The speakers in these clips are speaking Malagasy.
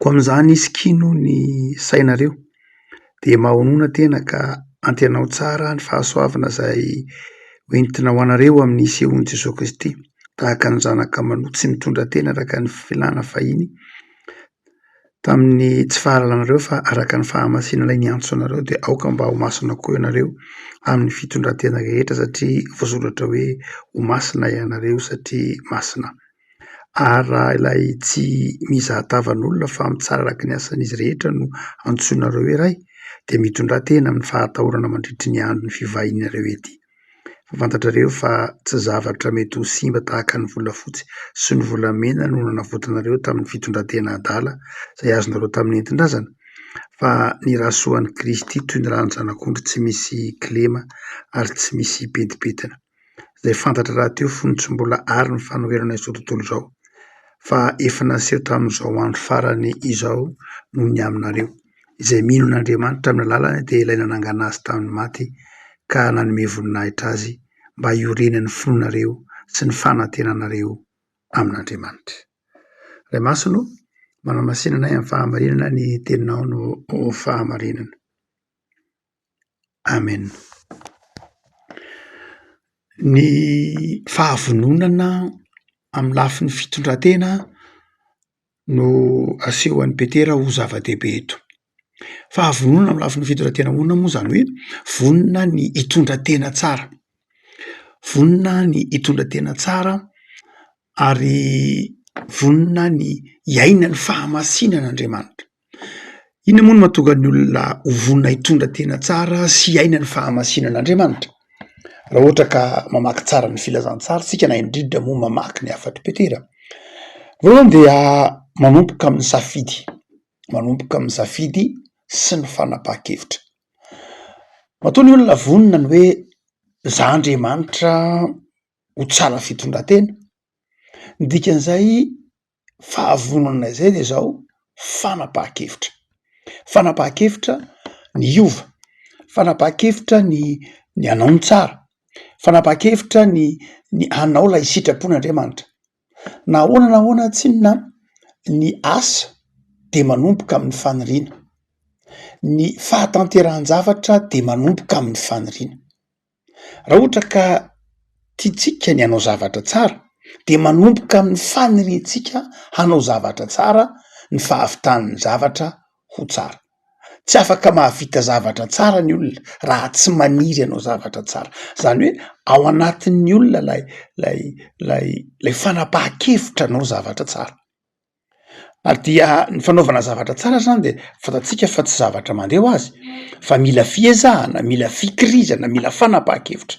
Koa amin'izany isikino ny sainareo dia mahonona tena ka antenaho tsara ny fahasoavana izay ho entina ho anareo amin'ny sehoan'i Jesoa Kristy tahaka ny zanaka manoa tsy mitondra tena araka ny filàna fahiny tamin'ny tsy fahalalanareo fa araka ny fahamasinana ilay niantso anareo dia aoka mba ho masina koa ianareo amin'ny fitondran-tena rehetra satria voasoratra hoe ho masina ianareo satria masina. ary raha ilay tsy mizaha tavan'olona fa mitsara araka ny asan'izy rehetra no antsoinareo iray dia mitondratena amin'ny fahatahorana mandritry ny andron'ny fivahinianareo ety. Fa fantatrareo fa tsy zavatra mety ho simba tahaka ny volafotsy sy ny volamena no nanavotanareo tamin'ny fitondratena adala izay azonareo tamin'ny nentin-drazana fa ny Rasoan'i Kristy toy ny ràn'ny Zanak'ondry tsy misy kilema ary tsy misy pentipentina. izay fantatra rahateo fony tsy mbola ary ny fanoherana izao tontolo izao fa efa naseho tamin'izao andro farany izao noho ny aminareo izay mino an'Andriamanitra amin'ny alalany dia ilay nanangana azy tamin'ny maty ka nanome voninahitra azy mba hiorenan'ny fonareo sy ny fanantenanareo amin'Andriamanitra. Ray Masina o, manamasinana ahy amin'ny fahamarinana ny teninao no fahamarinana. Amen. Ny fahavononana amin'ny lafiny fitondran-tena no asehon'i Petera ho zava-dehibe eto. Fahavononana amin'ny lafiny fitondran-tena ahoana moa izany hoe vonona ny hitondra tena tsara, vonona ny hitondra tena tsara ary vonona ny hiaina ny fahamasinan'Andriamanitra. Inona moa no mahatonga ny olona ho vonona hitondra tena tsara sy hiaina ny fahamasinana Andriamanitra? Raha ohatra ka mamaky tsara ny filazantsara isika na indrindra moa mamaky ny hafatr'i Petera, voalohany dia manomboka amin'ny safidy, manomboka amin'ny safidy sy ny fanapahan-kevitra. Matoa ny olona vonona ny hoe za Andriamanitra ho tsara fitondran-tena, ny dikan'izay fahavonona izay dia izao fanapahan-kevitra, fanapahan-kevitra ny hiova, fanapahan-kevitra ny ny hanao ny tsara, fanapahan-kevitra ny ny hanao ilay sitrapon'Andriamanitra. Na ahoana na ahoana tsinona ny asa dia manomboka amin'ny faniriana, ny fahatanterahan-javatra dia manomboka amin'ny faniriana. Raha ohatra ka tiantsika ny hanao zavatra tsara dia manomboka amin'ny faniriantsika hanao zavatra tsara ny fahavitan'ny zavatra ho tsara. Tsy afaka mahavita zavatra tsara ny olona raha tsy maniry hanao zavatra tsara. Izany hoe ao anatin'ny olona ilay ilay ilay ilay fanapahan-kevitra hanao zavatra tsara. ary dia ny fanaovana zavatra tsara zany de fantatsika fa tsy zavatra mandeha ho azy fa mila fiezahana mila fikirizana mila fanapaha-kevitra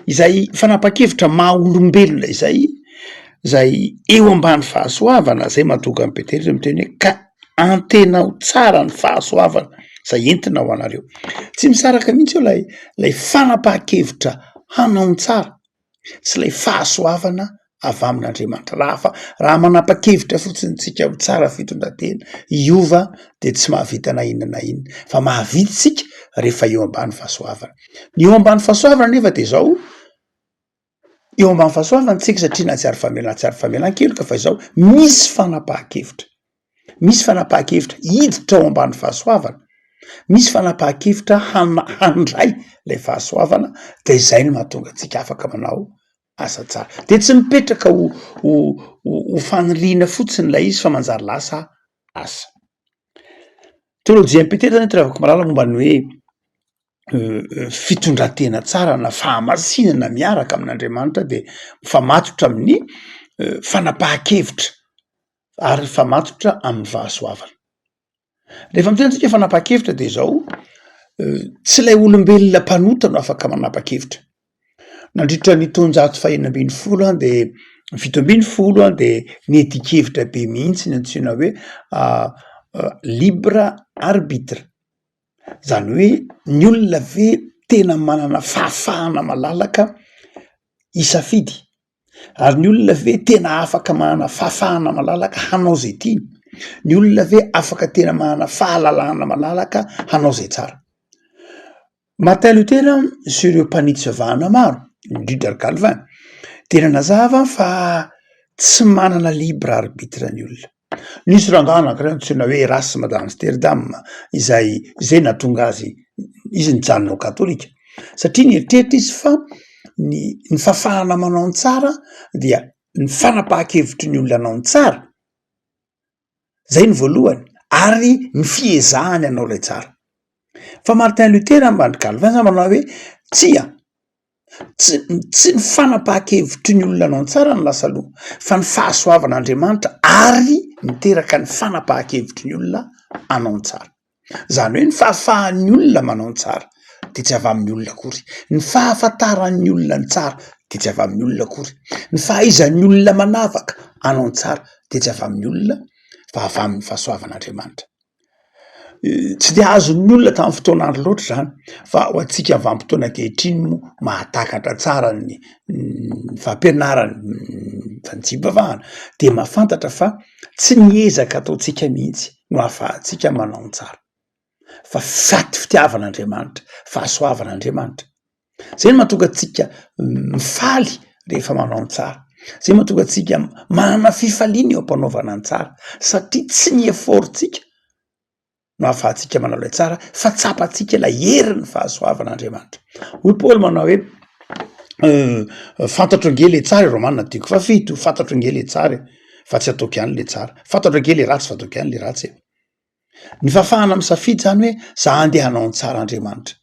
izay fanapaha-kevitra maha olombelona izay zay eo ambany fahasoavana zay matoga ny petely zay miteny hoe ka antena ho tsara ny fahasoavana zay entina ho anareo tsy misaraka mihitsy eo lay lay fanapaha-kevitra hanao ny tsara sy ilay fahasoavana avy amin'Andriamanitra. Raha fa raha manapa-kevitra fotsiny tsika ho tsara fitondran-tena hiova dia tsy mahavita na inona na inona fa mahavita tsika rehefa eo ambany fahasoavana. Ny eo ambany fahasoavana nefa dia izao eo ambany fahasoavana tsika satria na tsy ary famelan-tsy ary famelan-keloka fa izao misy fanapahan-kevitra. Misy fanapahan-kevitra hiditra ao ambany fahasoavana, misy fanapahan-kevitra handray ilay fahasoavana dia izay no mahatonga antsika afaka manao asa tsara. Dia tsy mipetraka ho ho ho faniriana fotsiny ilay izy fa manjary lasa asa. Teolojian'i Petera zany ravako malala momba ny hoe fitondran-tena tsara na fahamasinana miaraka amin'Andriamanitra dia mifamatotra amin'ny fanapahan-kevitra ary mifamatotra amin'ny fahasoavana. Rehefa miteny antsika fanapa-kevitra dia izao, tsy ilay olombelona mpanota no afaka manapa-kevitra. Nandritra ny taonjato fahena ambin'ny folo an dia ny fito ambin'ny folo an dia niheti-kevitra be mihitsy ny antsoina hoe libre arbitre. Izany hoe ny olona ve tena manana fahafahana malalaka hisafidy Ary ny olona ve tena afaka manana fahafahana malalaka hanao izay tiany? Ny olona ve afaka tena manana fahalalahana malalaka hanao izay tsara? Martin Luther sy ireo mpanitsy vavahana maro, indrindra ry Calvin, dia nanazava fa tsy manana libre arbitre ny olona. Nisy rangahy anankiray antsoina hoe Erasme d'Amsterdam izay izay nahatonga azy izy nijanona ho katolika satria nieritreritra izy fa ny ny fafahana manao ny tsara dia ny fanapahan-kevitry ny olona anao ny tsara zay ny voalohany ary ny fiezahany anao ilay tsara fa Martin Luther ambany Calvin zany manao hoe tsia Tsy tsy ny fanapahan-kevitry ny olona anao tsara no lasa loha fa ny fahasoavan'Andriamanitra ary miteraka ny fanapahan-kevitry ny olona anao tsara. Izany hoe ny fahafahan'ny olona manao ny tsara dia tsy avy amin'ny olona akory, ny fahafantaran'ny olona ny tsara dia tsy avy amin'ny olona akory, ny fahaizan'ny olona manavaka anao tsara dia tsy avy amin'ny olona fa avy amin'ny fahasoavan'Andriamanitra. Tsy dia azon'ny olona tamin'ny fotoana andro loatra izany fa ho antsika vanim-potoana ankehitriny moa mahatakatra tsara ny fampianarana fa ny tsy hivavahana dia mahafantatra fa tsy ny ezaka ataontsika mihitsy no ahafahantsika manao ny tsara fa faty fitiavan'Andriamanitra, fahasoavan'Andriamanitra. Zay no mahatonga antsika mifaly rehefa manao ny tsara. Zay mahatonga antsika manana fifaliana eo am-panaovana ny tsara satria tsy ny effort-tsika no ahafahantsika manao ilay tsara fa tsapantsika ilay herin'ny fahasoavan'Andriamanitra. Hoy Paoly manao hoe fantatro ange le tsara e, Romana telo fahafito, fantatro ange le tsara e fa tsy ataoko ihany le tsara, fantatro ange le ratsy fa ataoko ihany le ratsy e. Ny fahafahana misafidy izany hoe za handeha hanao ny tsara Andriamanitra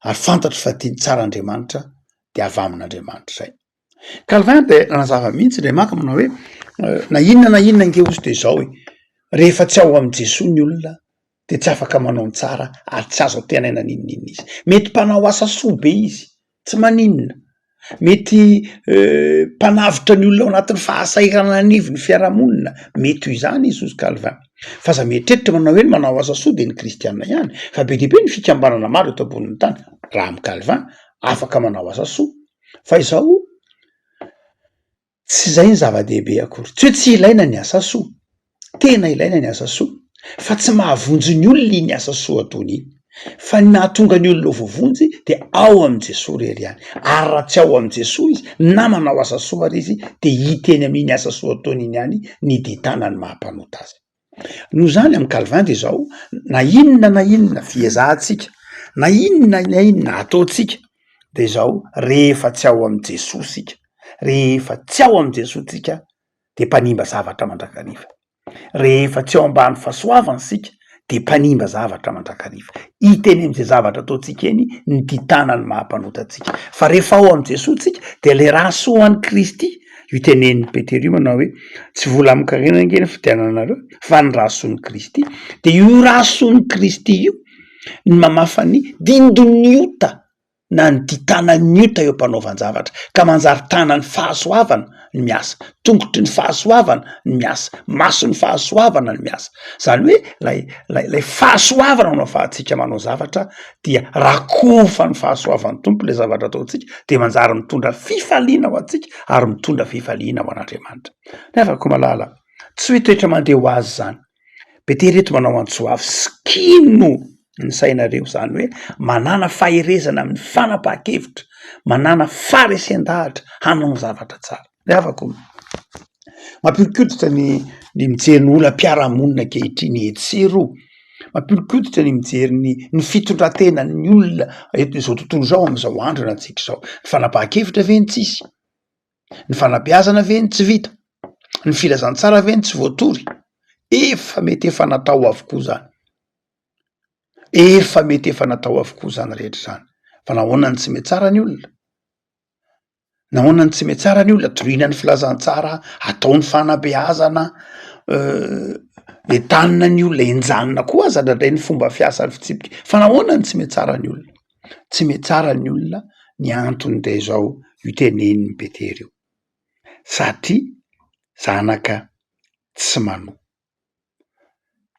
ary fantatro fa tia ny tsara Andriamanitra de avy amin'Andriamanitra izay. Calvin dia nanazava mihitsy indray maka manao hoe na inona na inona ange ozy dia izao e, rehefa tsy ao amin'i Jesoa ny olona dia tsy afaka manao ny tsara ary tsy azo antenaina n'inon'inona izy. Mety mpanao asa soa be izy Tsy maninona. Mety mpanavotra ny olona ao anatin'ny fahasahiranana anivon'ny fiarahamonina. Mety ho izany i Zozy Calvin. F'aza mieritreritra manao hoe ny manao asa soa dia ny kristiana ihany, fa be dia be ny fikambanana maro eto ambonin'ny tany, raha amin'i Calvin, afaka manao asa soa. Fa izao, Tsy izay ny zava-dehibe akory. Tsy hoe tsy ilaina ny asa soa. Tena ilaina ny asa soa. Fa tsy mahavonjy ny olona iny asa soa ataony iny. Fa ny nahatonga ny olona ho voavonjy dia ao amin'i Jesoa irery ihany. Ary raha tsy ao amin'i Jesoa izy na manao asa soa ary izy dia hita eny amin'iny asa soa ataony iny ihany ny dintana ny maha-mpanota azy. Noho izany, amin'i Calvin dia izao, na inona na inona fiezahantsika, na inona na inona ataontsika dia izao, rehefa tsy ao amin'i Jesoa isika, rehefa tsy ao amin'i Jesoa isika dia mpanimba zavatra mandrakariva, rehefa tsy ao ambany fahasoavany isika dia mpanimba zavatra mandrakariva. Hita eny amin'izay zavatra ataontsika eny ny ditanan'ny maha mpanota antsika. Fa rehefa ao amin'i Jesoa isika dia ilay rà soa an'i Kristy. Io tenenin'i Petera io manao hoe tsy vola amin-karena ange ny fidiananareo fa ny rason' Kristy. Dia io rason' Kristy io ny mamafa ny dindon'ny ota na ny ditanan'ny ota eo am-panaovan-javatra ka manjary tanan'ny fahasoavana ny miasa, tongotry ny fahasoavana ny miasa, mason'ny fahasoavana ny miasa. Izany hoe ilay ilay ilay fahasoavana no ahafahantsika manao zavatra dia raha kofa ny fahasoavan'ny Tompo ilay zavatra ataontsika dia manjary mitondra fifaliana ho antsika ary mitondra fifaliana ho an'Andriamanitra. Ny havako malala, tsy hoe toetra mandeha ho azy izany. Petera eto manao antso avy, sikino ny sainareo, izany hoe manana faherezana amin'ny fanapahan-kevitra, manana faharesen-dahatra hanao ny zavatra tsara. Ny havako, mampihodi-koditra ny ny mijery ny olam-piarahamonina ankehitriny etsy sy eroa, mampihodi-koditra ny mijery ny ny fitondran-tenan'ny olona eto izao tontolo izao amin'izao andro iainantsika izao. Ny fanapahan-kevitra ve no tsisy? Ny fanabeazana ve no tsy vita? Ny filazantsara ve no tsy voatory? Efa mety efa natao avokoa izany, efa mety efa natao avokoa izany rehetra izany fa nahoana no tsy mihatsara ny olona? Nahoana no tsy mety tsara ny olona dorohina ny filazantsara ataony fanabeazana eh, entanina ny olona enjanona koa aza ndraindray ny fomba fiasan'ny fitsipika fa nahoana no tsy mety tsara ny olona tsy mety tsara ny olona ny antony dia izao io teneniny betery io satria zanaka tsy manoa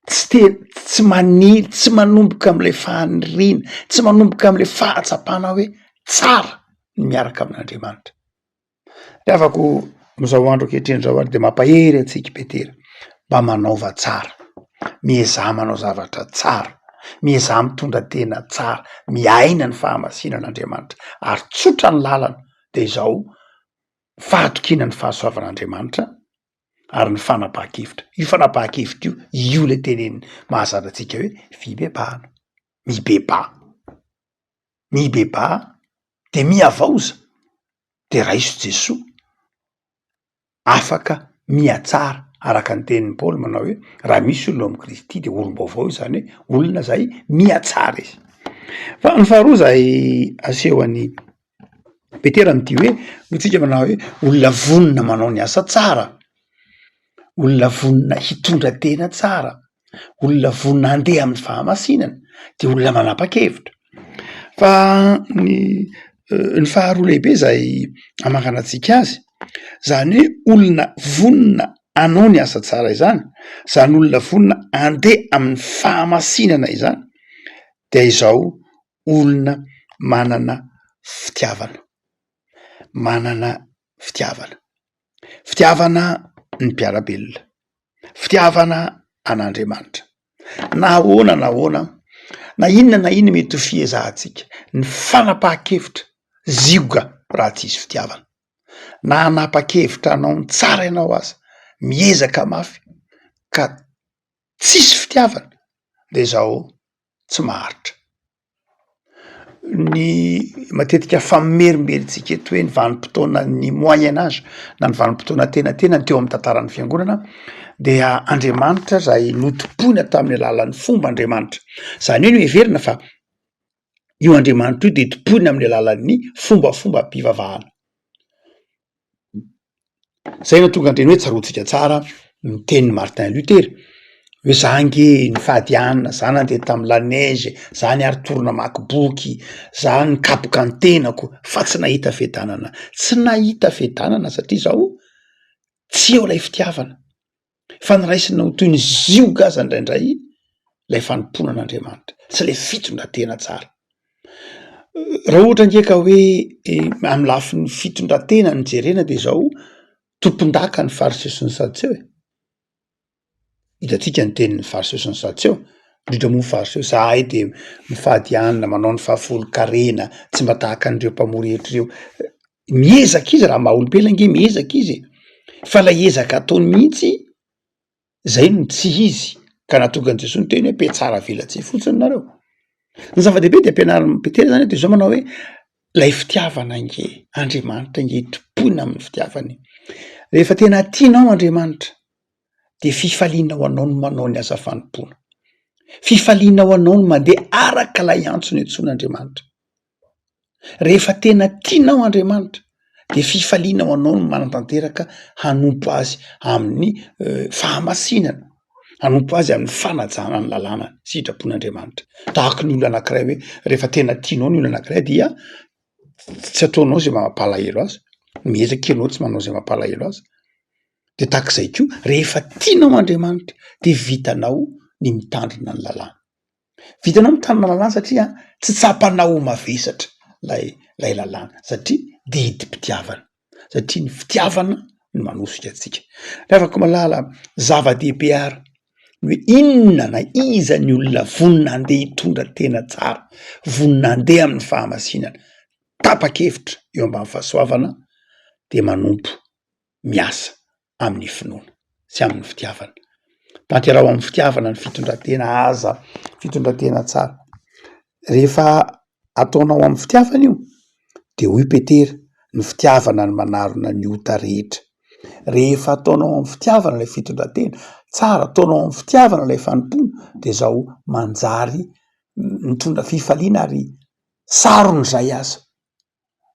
tsy te tsy manil tsy manomboka am'ilay faniriana tsy manomboka am'ilay fahatsapana hoe tsara ny miaraka amin'andriamanitra de afako am'izao andro ankehitriny zao ary de mampahery antsika petera mba manaova tsara miezaha manao zavatra tsara miezaha mitondra tena tsara miaina ny fahamasinana andriamanitra ary tsotra ny lalana de izao fahatokiana ny fahasoavan'andriamanitra ary ny fanapahan-kevitra. Io fanapahan-kevitra io, io lay teneniny mahazatra antsika hoe fibebahana, mibebaha, mibebaha de mihavaoza de raiso Jesoa, afaka mihatsara araka ny tenin'i Paoly manao hoe raha misy olona ao amin'i Kristy de olom-baovao izy, zany hoe olona zay mihatsara izy. Fa ny faharoa zay aseho an'i Petera no tia hoe hoy tsika manao hoe olona vonona manao ny asa tsara, olona vonona hitondra tena tsara, olona vonona handeha amin'ny fahamasinana de olona manapa-kevitra fa ny ny faharoa lehibe zay amangana antsika azy zany hoe olona vonona anao ny asa tsara izany zany olona vonona andeha amin'ny fahamasinana izany dia izao olona manana fitiavana, manana fitiavana, fitiavana ny mpiara-belona, fitiavana an'Andriamanitra. Na ahoana na ahoana, na inona na inona mety ho fiezahantsika, ny fanapahan-kevitra zioga raha tsy hisy fitiavana. Na hanapa-kevitra hanao ny tsara ianao aza, miezaka mafy ka tsisy fitiavana dia izao. tsy maharitra. Ny matetika famerimberentsika eto hoe ny vanim-potoanan'ny moyen age na ny vanim-potoana antenatenany teo amin'ny tantaran'ny fiangonana dia Andriamanitra izay notompoina tamin'ny alalan'ny fomba Andriamanitra. Izany hoe noheverina fa io Andriamanitra io dia tompoina amin'ny alalan'ny fombafomba-pivavahana. Zay no tonga an-dreny hoe tsaroantsika tsara ny tenin'i Martin Luther hoe za nge nifady hanina, za nandeha tamin'ny la neige, za niary tory namaky boky, za nikapoka ny tenako fa tsy nahita fiadanana, tsy nahita fiadanana satria zaho tsy eo lay fitiavana. fa ny raisina ho toy ny zioga aza indraindray ilay fanompoana an'Andriamanitra sy ilay fitondran-tena tsara. Raha ohatra ange ka hoe eh, amin'ny lafiny fitondran-tena ny jerena dia izao tompondaka ny fariseo sy ny satseo e. Hitantsika ny tenin'ny fariseo sy ny satseo indrindra moa fariseo zahay dia mifady anina manao ny fahafolo karena tsy mba tahaka an'ireo mpamory hetra ireo miezaka izy raha maha-olombelona nge miezaka izy e, fa lay ezaka ataony mihitsy zay no tsy izy ka nahatonga an'i Jesoa niteny hoe mpiatsara avelatsihy fotsiny nareo, ny zava-dehibe de ampianarin'i Petera zany de zao manao hoe lay fitiavana nge Andriamanitra nge tompoina amin'ny fitiavany, rehefa tena tianao Andriamanitra de fifaliana ho anao ny manao ny asa fanompoana, fifaliana ho anao ny mandeha araka lay antso nentsoan'Andriamanitra. Rehefa tena tianao Andriamanitra dia fifaliana ho anao ny manatanteraka hanompo Azy amin'ny fahamasinana, hanompo Azy amin'ny fanajana ny lalànany, sitrapon'Andriamanitra. Tahaka ny olona anankiray hoe rehefa tena tianao ny olona anankiray dia tsy ataonao izay mampalahelo azy, miezaka kely anao tsy manao izay mampalahelo azy, de tahak'izay koa rehefa tianao Andriamanitra de vitanao ny mitandrina ny lalàny. Vitanao ny mitandrina lalàna satria tsy tsapanao ho mavesatra lay lay lalàna satria didim-pitiavana satria ny fitiavana no manosika antsika. Ry havako malala, zava-dehibe ary ny hoe inona na iza ny olona vonona handeha hitondra tena tsara, vonona handeha amin'ny fahamasinana, tapa-kevitra eo ambany fahasoavana dia manompo miasa amin'ny finoana sy amin'ny fitiavana. Tanteraho amin'ny fitiavana ny fitondran-tena aza fitondran-tena tsara. Rehefa ataonao amin'ny fitiavana io de hoy Petera ny fitiavana no manarona ny ota rehetra. Rehefa ataonao amin'ny fitiavana ilay fitondran-tena tsara, ataonao amin'ny fitiavana ilay fanompoana de zao manjary mitondra fifaliana ary saron'izay aza.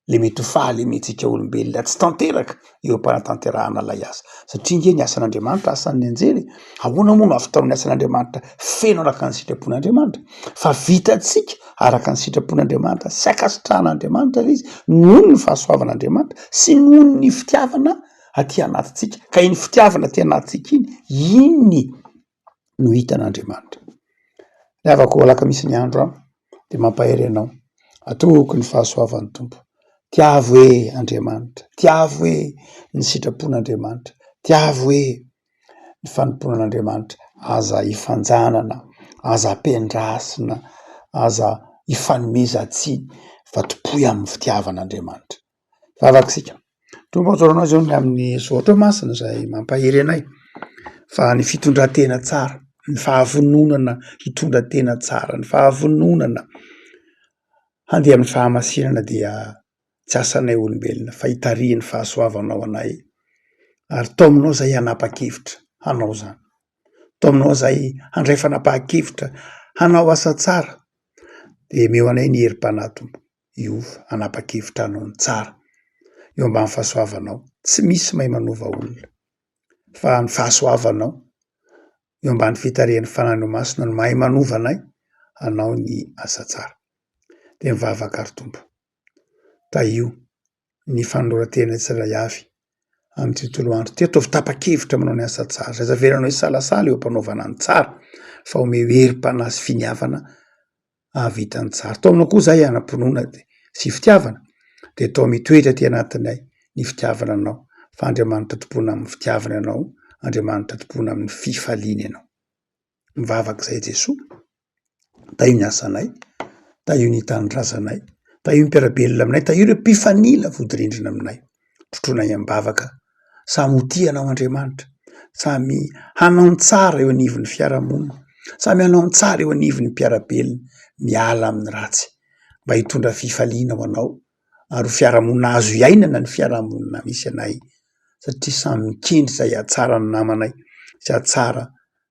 le mety ho fahalementsika olombelona tsy tanteraka eo am-panatanterahana ilay asa satria ange ny asan'Andriamanitra asan'ny anjely e! ahoana moa no ahavitao ny asan'Andriamanitra feno araka ny sitrapon'Andriamanitra fa vitantsika araka ny sitrapon'Andriamanitra sy ankasitrahan'Andriamanitra ilay izy noho ny fahasoavan'Andriamanitra sy noho ny fitiavana aty anatintsika ka iny fitiavana aty anatintsika iny iny no hitan'Andriamanitra. Ny havako alaka misy ny andro an! dia mampahery anao, atoky ny fahasoavan'ny Tompo, tiavo e Andriamanitra, tiavo e ny sitrapon'Andriamanitra, tiavo e ny fanompoana an'Andriamanitra, aza ifanjanana, aza ampiandrasina, aza ifanomezan-tsiny fa tompoy amin'ny fitiavan'Andriamanitra. Vavak'isika. Toa mazoto anao zao ny amin'ny zao teo masina izay mampahery anay fa ny fitondran-tena tsara, ny fahavononana hitondra tena tsara, ny fahavononana handeha amin'ny fahamasinana dia tsy asanay olombelona fa hitarihin'ny fahasoavanao anay ary tao aminao izay hanapa-kevitra hanao izany. Tao aminao izay handray fanapahan-kevitra hanao asa tsara dia omeo anay ny herim-panahy Tompo. io hanapa-kevitra anao ny tsara. Eo ambany fahasoavanao. Tsy misy mahay manova olona fa ny fahasoavanao. Eo ambany fitarihan'ny Fanahinao Masina no mahay manova anay hanao ny asa tsara. Dia mivavaka àry Tompo, tahio ny fanoloran-tena tsirairay avy amin'ity tontolo andro ity. Ataovy tapa-kevitra manao ny asa tsara. Aza avelanao hisalasala eo am-panaovana ny tsara fa omeo herim-panahy sy finiavana hahavita ny tsara. Atao aminao koa izahay hanam-pinoana sy fitiavana dia atao mitoetra aty anatinay ny fitiavana anao fa Andriamanitra tompona amin'ny fitiavana ianao, Andriamanitra tompona amin'ny fifaliana ianao. mivavaka izay Jesoa, tahio ny asanay, tahio ny tanindrazanay, tahio ny mpiara-belona aminay, tahio ireo mpifanila vodirindrina aminay. Trotroinay am-bavaka, samy ho tia anao Andriamanitra, samy hanao ny tsara eo anivon'ny fiarahamonina, samy hanao ny tsara eo anivon'ny mpiara-belona, miala amin'ny ratsy mba hitondra fifaliana ho anao ary ho fiarahamonina azo iainana ny fiarahamonina misy anay satria samy mikendry izay hahatsara ny namanay sy hahatsara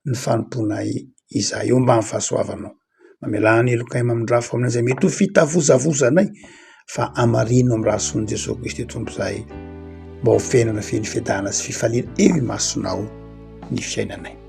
ny fanompoanay izahay. Homba ny fahasoavanao. Mamelà ny helokay mamindrafo amin'izay mety ho fitavozavozanay fa hamarino amin'ny rà soan'i Jesoa Kristy Tompo izahay mba ho fiainana feno fiadanana sy fifaliana eo imasonao ny fiainanay.